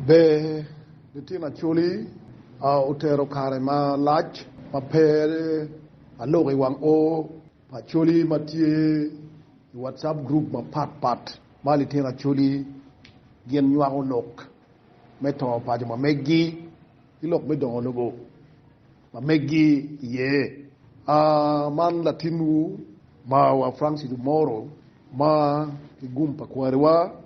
Ber litino Acholi otero kare malac ma pe aloko i wang o pa Acholi ma tye i WhatsApp group mapat pat ma litino Acholi gin nywako lok me to paco ma meggi ki lok me dongo lobo ma meggi iye. Man latinwu mawa Francis Omoro ma ki gum pa kwariwa.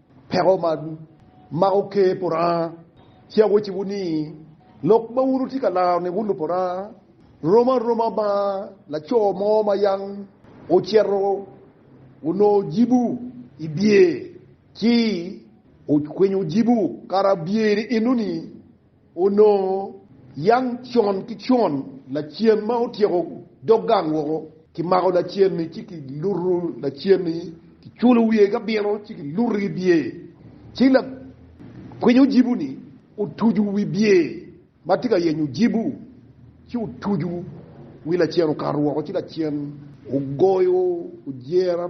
Peko ma mako ker pa Lubanga ci awacciwu ni, lok ma wun wutye ka laro ni wun Lupuranga rom aroma ma laco mo ma yam ocito onongo jibu i byer ci okwinyo jibu kara byer-ri eno-ni. Onongo yang con ki con lacen ma otyeko dog gang woko, kimako lacen-ni ci kiluto lacen-ni, kiculo wiye ki abino ci kiluto i bye. Ci lakwiny ojibu-ni otuco wi bye ma tye ka yenyo ojibu, ci otuco wi lacen okato woko, ci lacen ogoyo ojera.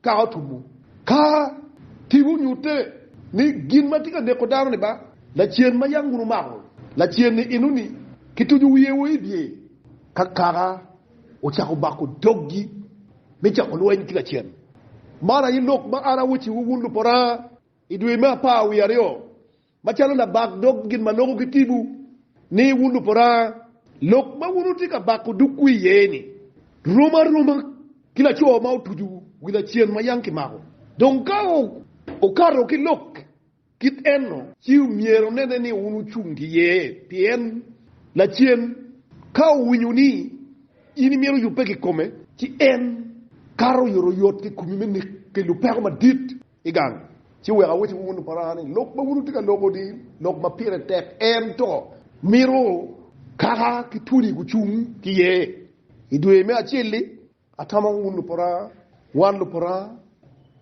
Ka otumo, ka tipo nyutte ni gin ma tye ka neko dano-ni ba lacen ma yam wun wumako, lacen-ni enoni, kituco wiye wa i dye ka kaka ocako bako doggi me cako lweny ki lacen. Man aye lok ma an awecciwu wun lupora i dwe me apar wiye aryo. Macalo labak dog gin ma loko ki timwu ni wun luporanga, lok ma wun wutye ka bako dogwu iye-ni rom aroma ki laco ma otuco wi lacen ma yam kimako. Dong ka okato ki lok kit enno, ci myero onene ni wun wucung ki iye, pien lacen ka owinyo ni in imito yubbe kikome, ci en kato oyotoyot kikomi me neke lupeko madit. i gang, ci wek awacciwu wun luparana ni, lok ma wun wutye ka loko ni lok ma pire tek, ento mito kaka ki twoni gucung ki iye. I dwe me acel-li, atamo wun luparana, wan luparana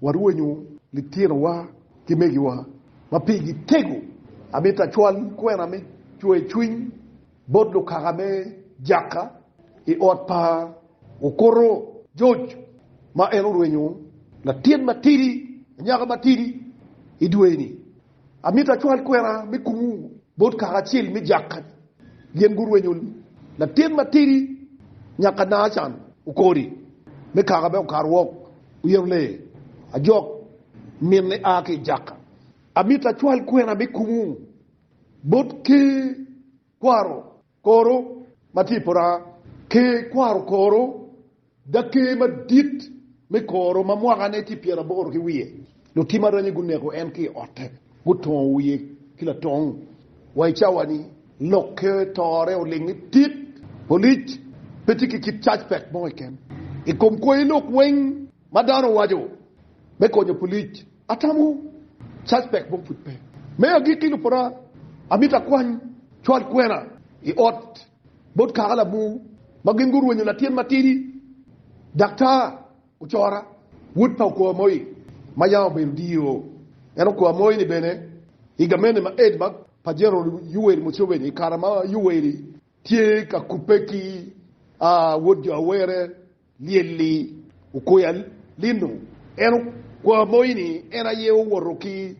warwenyo litinowa ki megiwa ma pigi tego, amito acwal kwena me cwer cwiny. Bot lukaka me Jakka i ot pa okuto George ma en orwenyo latin matidi, anyaka matidi i dwe-ni, amito acwal kwena me kumu bot kaka acel me Jakka ni gin gurwenyo latin matidi nyaka Nacan Okori me kaka me Okar Wok Oyero Lee Ajok min ni a ki i Jakka. Amito acwal kwena me kumu Bot ki kwaro koro ma tye i pora, ki kwaro koro, daker madit me koro ma mwakane tye pyeraboro ki wiye, lutim aranya guneko en ki i otte, gutongo wiye ki latong. Wa i cawa-ni, lokke tore oling ni tit, polic, pe tye ki kit cacpek mo keken i kom kwoyo lok weng ma dano waco me konyo polic. Atamo suspect mo pud pe. Me agikki lupota amito akwany cwal kwena i ot bot kaka lamur ma gin gurwenyo latin matidi daktar ocora wod pa okwa Moi ma yam obedo diro en okwa Moi ni bene i gamente ma aid ma pa General Yoweri Museveni i kare ma Yoweri tye ka kubbe ki wod jo Awere Lyelli okoya lino en okwa moyi ni en aye owoto ki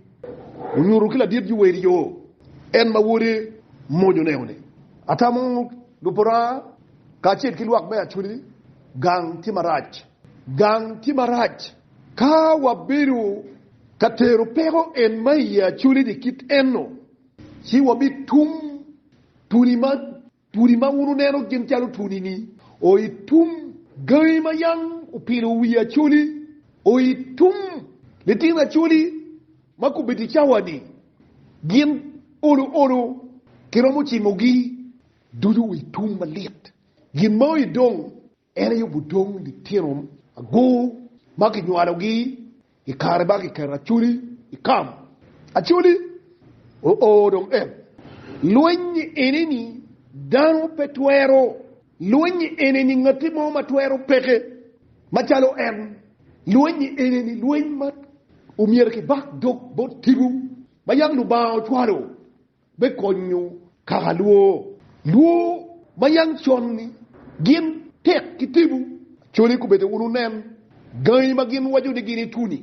onyuto ki ladit Yuweri yo en ma wode mony oneno ni atamo luporanga kacel ki lwak me Acholi gang tye marac. Gang tye marac ka wabedo ka tero peko en ma iye Acholi ni kit eno ci wabitum tuni ma. Pudi ma wun wuneno gin calo twoni-ni o i tum gangi ma yam opino wi acholi, o i tum litino acholi ma gubedo i cawa-ni, gin olo olo kiromo cimogi ducu i tum malit. Gin mao i dong En aye gudong litino agur ma kinywalogi i kare ma kiketo Acoli i kam. Acoli oo dong en. Lweny ene-ni dano pe twero. Lweny ene-ni ngatti mo ma twero peke macalo en. Lweny ene-ni lweny ma omyero kibak dog bot tipo ma yam Lubanga ocwalo. me konyo kaka lwor, lwor ma yang con-ngi gin tek ki tipo, Acholi kobedo wun wunen gangi ma gin waco ni gin ituni,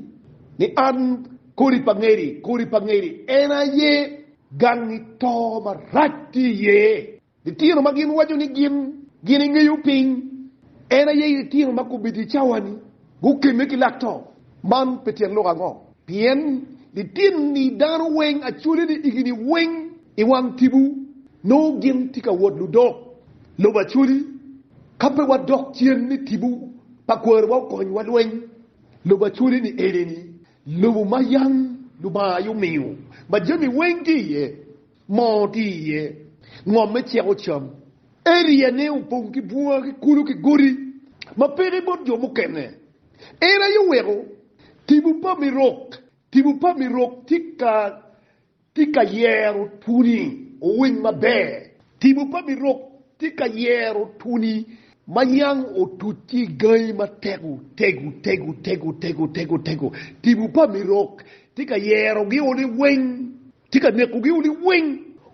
ni an kodi pa ngeri, kodi pa ngeri, en aye gangi to marac tye iye. Litino ma gin waco ni gin gin ingeyo piny en aye litino ma gubedo i cawa-ni gukemme ki lak to. Man pe tyen lok ango? Pien litini dano weng acwale ni igini weng i wang tibu nongo gin tye ka wot ludok lobo acwali. Ka pe wadok cen ni tibu pa kwariwa okony wa lweny lobo acwali ni eni ni lobo ma yam Lubanga aye omiyo ma jami weng tye iye. mo tye iye, ngom me ceko cam. Eriane opong ki bunga ki kulu ki godi ma peke bot jo mukene. En aye oweko Tipo pa Mirok. Tipo pa Mirok tye ka yero twoni owiny maber. Tipo pa Mirok tye ka yero twoni ma nyang otuc ki i gangi matego tego tego tego tego tego tego. Tipo pa Mirok tye ka yerogi one weng. Tye ka nekogi wunu weng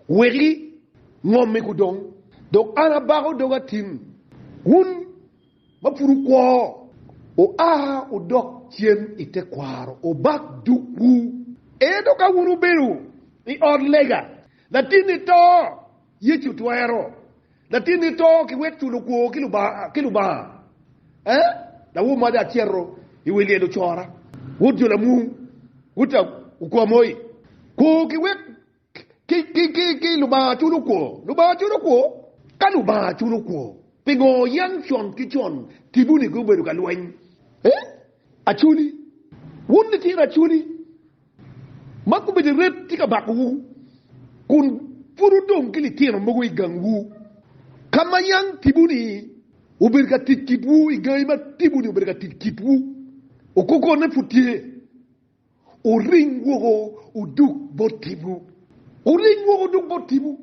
weki ngomme gudong, dok an abako doga tin. Wun ma pud wukwo, wua wudok cen i tekwaro, wubak dukwu. Ento ka wun wubedo i ot lega, latinni to, Yecu twero latinni to ki wek culo kwo ki Lubanga? Ee. Lawo mada acito i wi lyelo cora, Wod jo lamung, Wod okwamoi. Kwo ki wek ki Lubanga culo kwo. Lubanga culo kwo? Ka Lubanga culo kwo, pingo yam con ki con kibuni gubedo ka lweny? Ee, Aculi. Wun litino aculi. Ma kobedo iret tye ka bakowu, kun pud wudong ki litino mogo i gangwu, ka ma yam tibu-ni obedo ka tic kitwu, i gangi ma tibu-ni obedo ka tic kitwu, okokone pud tye. Wuring woko wudug bot tibu, wuring woko wudug bot tibu.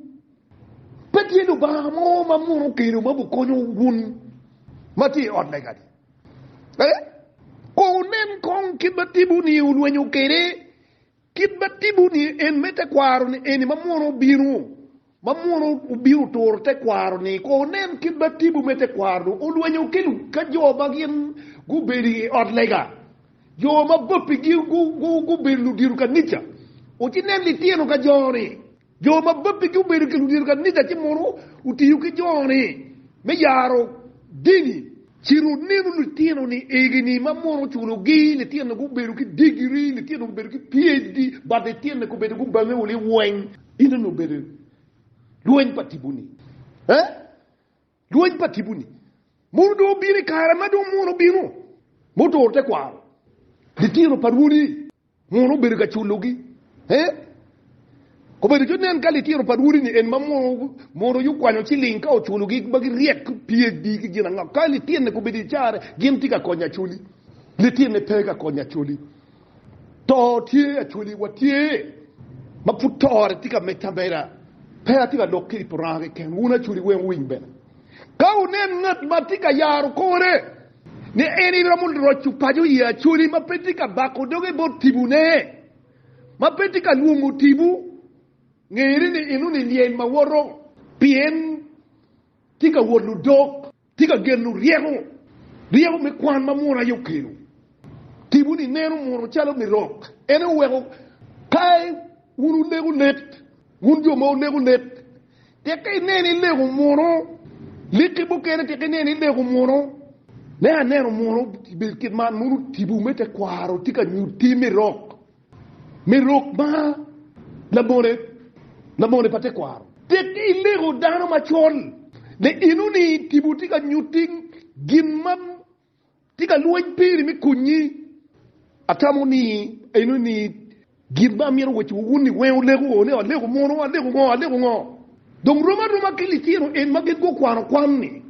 Pe tye Lubanga mo ma muno kelo ma bikonyo wun ma tye i ot lega-ni? Eh? Kong wunen kong kit ma tipo-ni olwenyo kwede, kit ma tipo-ni en me tekwaro-ni eni ma munu obino, ma munu obino oturo tekwaro-ni. Kong wunen kit ma tipo me tekwaro-nu olwenyo ki ka jo ma gin gubedo i ot lega, jo ma bappigi gubedo ludito kanica. Wucinen litino ka jo-ni. Jo ma babbigi obedo ki ludito kanica ci mono otiyo ki jo-ni me yaro dini. Ci wunenu litino ni egini ma mono oculogi, litino gubedo ki digiri, litino gubedo ki PHD, bad litino gubedo gubange wul iweng. Ino ni obedo lweny pa tipo-ni. Eh? Lweny pa tipo-ni mono dong obino i kare ma dong mono obino? Mutoro tekwaro litino pa Rwodi mono obedo ka culogi? Ee, obedo calo nen ka litino pa Rwodi-ni en ma mono yukwanyo ciling ka oculogi ma giryek ki PHD ki gin ango. Ka litinne gubedo i carre, gin tye ka konyo Acholi? Litinne pe ka konyo Acholi. To tye Acholi, watye ma pud tore tye ka medde ameda. Pe atye ka lok ki i Puranga keken, wun Acholi weng wuwiny bene. Ka wunen ngat ma tye ka yaro kore ni en iromo roco paco i Acholi ma pe tye ka bako doge bot tibune, ma pe tye ka lwongo tibu, ngeri ni enoni lyel ma woto, pien tye ka wot ludok. Tye ka geno ryeko, ryeko me kwan ma Munu aye okelo. Tipo ni neno Munu calo mirok. En aye oweko ka wun wuleko lek, wun jo ma wuleko lek, tek ka ineno ileko Munu, leki mukene tek ineno ileko Munu, ne aneno Munu bed kit man, Munu tipo me tekwaro tye ka nyutti mirok. me rok ma labone labone pa tekwaro. Tek ni ilego dano macol ni enoni tipo tye ka nyutti gin ma tye ka lweny piri me konyi. Atamo ni enoni gin ma amito wacci wa wun ni weng olego ni alego mono, alego ngo, alego ngo. Dong rom aroma ki litino en ma gin gukwano kwan ni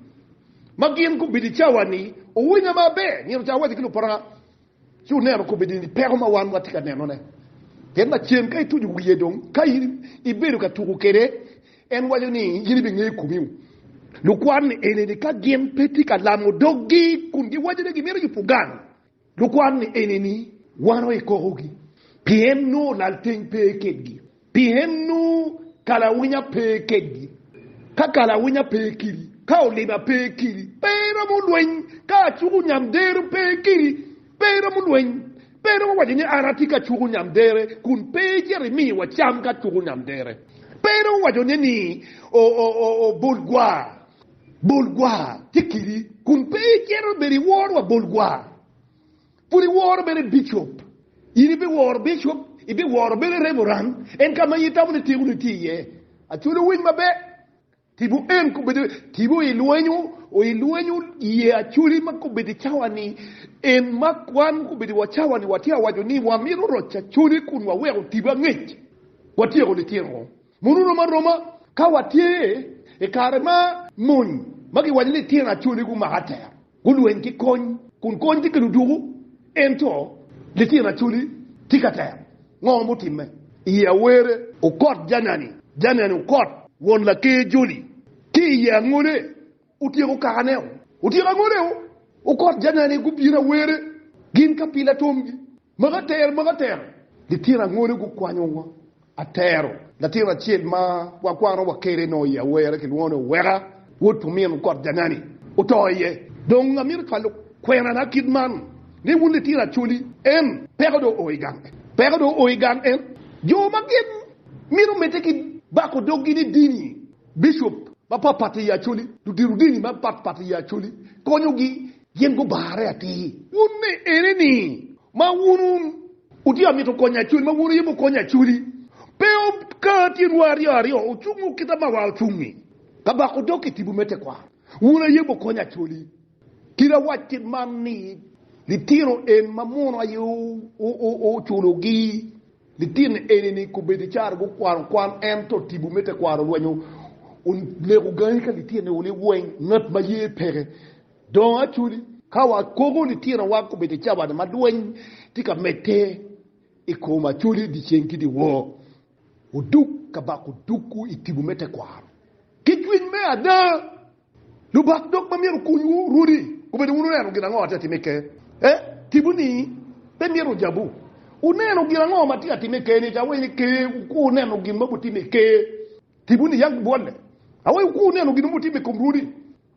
ma gin gubedo i cawa ni, Owinya maber, nino ca awacci ki lupara Ci wunenu kobeddi ni peko ma wan watye ka nenone. Pien lacen ka ituco wiye dong ka in ibedo ka tuko kwede, en waco ni in ibingeyo komiwu. Lukwan ni eni ni ka gin pe tye ka lamo doggi kun giwaco ni gimito yubo gang, lukwan ni eni ni wano i kokogi, pien nongo lalteng pe kedgi. Pien nongo kalawinya pe kedgi ka kalawinya pe kiri, ka oliba pe kiri, pe eromo lweny, ka acuku nyamdero pe kiri, pe eromo lweny. Pe iromo waco ni, 'An atye ka cuku nyamdere, kun pe icito imi wa cam ka cuku nyamdere. Pe iromo waco ne ni, 'O, o, o, o, bol gwa, bol gwa tye kiri, kun pe icito ibedo iworo wa bol gwa. Pud iworo bene bicop? In ibiworo bicop? Ibiworo bene reverend? En ka ma in itamo ni tekoni tye iye. Acholi owiny maber. Tipo en kobedo tipo i lwenyo, i lwenyo ye acholi ma kobedo i cawa ni. En ma wan kobedo wa cawa ni watye awaco ni wamito roc acholi kun waweko tipo angec. Watyeko litino. Mono oromo aroma ka watye i kare ma mony ma giwaco ni litino acoli gumako atera, gulweny ki kony, kun kony tye ka ludwogo, ento litino acoli tye ka tero. Ngo mutimme i Awere? Okot Janani, Janani Okot, won laker joli, ki i angole otyeko kakaneo. Otyeko angoleo, Okot Janani gubino Awere gin ka pila tomgi. Moko atero, moko atero. Litino angole gukwanyowa atero. Latin acel ma wakwanowa kwede nongo iye awerre kilwongo ni Oweka, wod pa omin kot Jangani, oto iye. Dong amito cwalo kwenana kit man ni wun litino Acholi, en peko dong oo i gang en, peko dong oo i gang en. Jo ma gin mito medde ki bako doggi ni dini Bicop mapatpat i Acholi, ludito dini mapatpat i Acholi konyogi gin gubarre atir. Wun me ene ni ma wun wun wutye ka mito konyo Acholi ma wun wuye mu konyo Acholi pe ka tyen wa aryo aryo ocungo kita ma wa ocung ni ka bako dog ki tibu me tekwaro wun aye mu konyo Acholi kit awac kit man ni litino en ma muno aye oculogi. Litino eni-ni kobedo icara gukwano kwan ento tipo me tekwaro olwenyo oneko gangi ka litino ni wuni weng ngat ma ye peke dongo acoli. Ka wakogo litinowa kobedo icawa ni ma lweny tye ka medde i kom acoli dyeceng ki dyewor, wudug ka bako dogwu i tipo me tekwaro ki cwiny me ada. Lubak dog ma myero okunywu runi obedo wun wuneno gin ango atye atim i Ker? E, tipo ni pe myero ojabu. Wuneno gin ango ma tye atim i Ker ni? Awayi ni Ker wuku wuneno gin ma butime i Ker. Tipo ni yag bwolle. Awayi wuku wuneno gin ma butime i kom runi.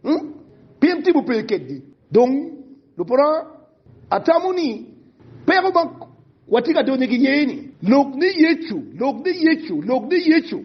Hmm? Pien tipo pe kedgi. Dong, luporra, atamo ni peko ma watye ka donyo ki iye ni, lok ni Yecu, lok ni Yecu, lok ni Yecu.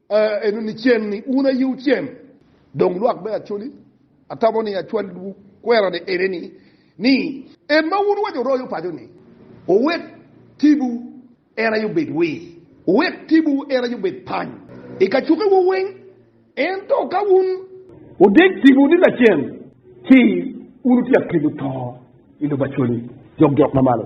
Ento nicen-ni, wun aye wucen, dong lwak me Acoli. Atamo ni acwalliwu kwerane eneni, ni, En ma wun waco royo paco-ni, wuwek tipo en aye obed wir, wuwek tipo en aye obed pany i kacukewu weng. Ento ka wun. Wudeg tipo ni lacen, ci wun wutye akelu to i lobo Acoli, jok jok ma malo.